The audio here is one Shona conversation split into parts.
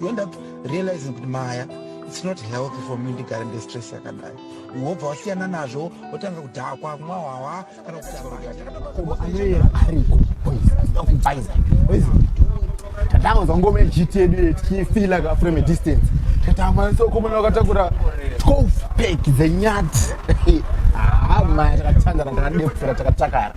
you end up realizing kuti maya it's not healthy for me ndigare ndestress yakadai wobva wasiyana nazvo wotanga kudhakwa kumwa hwawa kana kutianoyera ariko akubaiza tatanganzwa ngoma yechiti yedu yetichifila ka from a distance tatamanisa ukomana wakatakura 12 pek dzenyati haa ah, maya takatandara takadepfura takatakara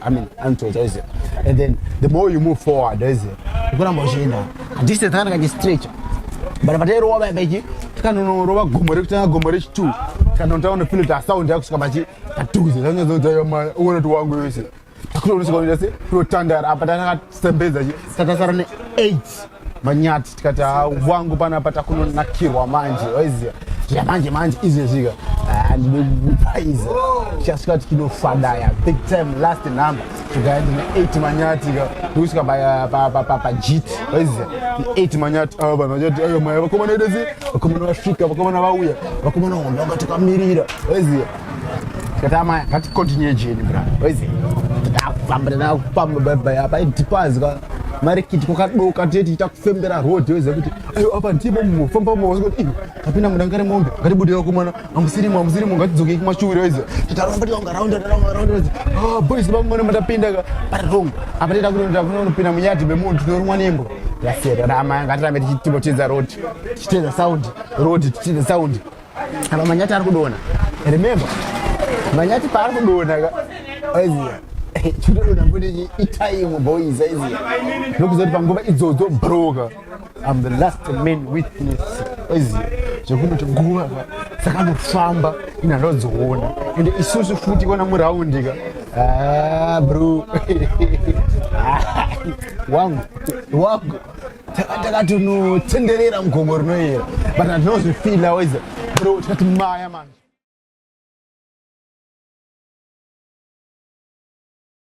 I mean, until Jose. And then the more you move forward, Jose, you gonna machine. This is kind of like stretch. But but ero waba beji, kana no roba gomore kutanga gomore chitu. Kana ntaona feel ta sound yako kusika bachi. Tatuze, zanya zozo yoma, uone tu wangu yose. Takulo unisi kwa ndase, pro tandara, apa tanga sembeza ji. Tata sarane 8. manyati tikati ah, wangu panapa takunonakirwa manje waiziva zvamanje manje izvezvika ah, ndinopaiza tichasvika tikinofadaya big time last number tikaenda ne8 manyati ndikusvika pajiti waiziva ne8 manyati ah, vanhu vachati ayo maya vakomana edezi vakomana vasvika vakomana vauya vakomana wanga wanga takamirira waiziva tikati amaya ngatikontinue jeni bra waiziva takufambira nakufamba baibai apa idipazika marikiti kwakadoka tee tichita kufembera road oziva kuti ayo apa ndimo mofamba moti ivo apinda muda ngari mombe ngatibudira kumwana amusirimo amusirimo ngatidzokei kumashuwiro oziva titaramba tiwanga raunda raunda raunda ozi ah, boys vangu mwana matapinda ka pari wrong apa tiita kunoita kunonopinda munyadhi memunhu tinorumwa nembwa yasiyana rama ngatirambe tichitimo tiedza road tichitedza sound road tichitedza sound Apa manyati ari kudona. Remember. Manyati paari kudona ka. Aiziya. Chidodona mbuti itaimu boys aiziya. Nokuzoti panguva idzodzo broker. I'm the last man witness. Aiziya. Zvekunoti nguva ka. Saka anofamba ina ndodziona. Ende isusu futi kona muraundi ka. Ah bro. Wangu. Wangu. takatonotsenderera mugomo rinoyera but handinozvifila waiza bro tikati maya manje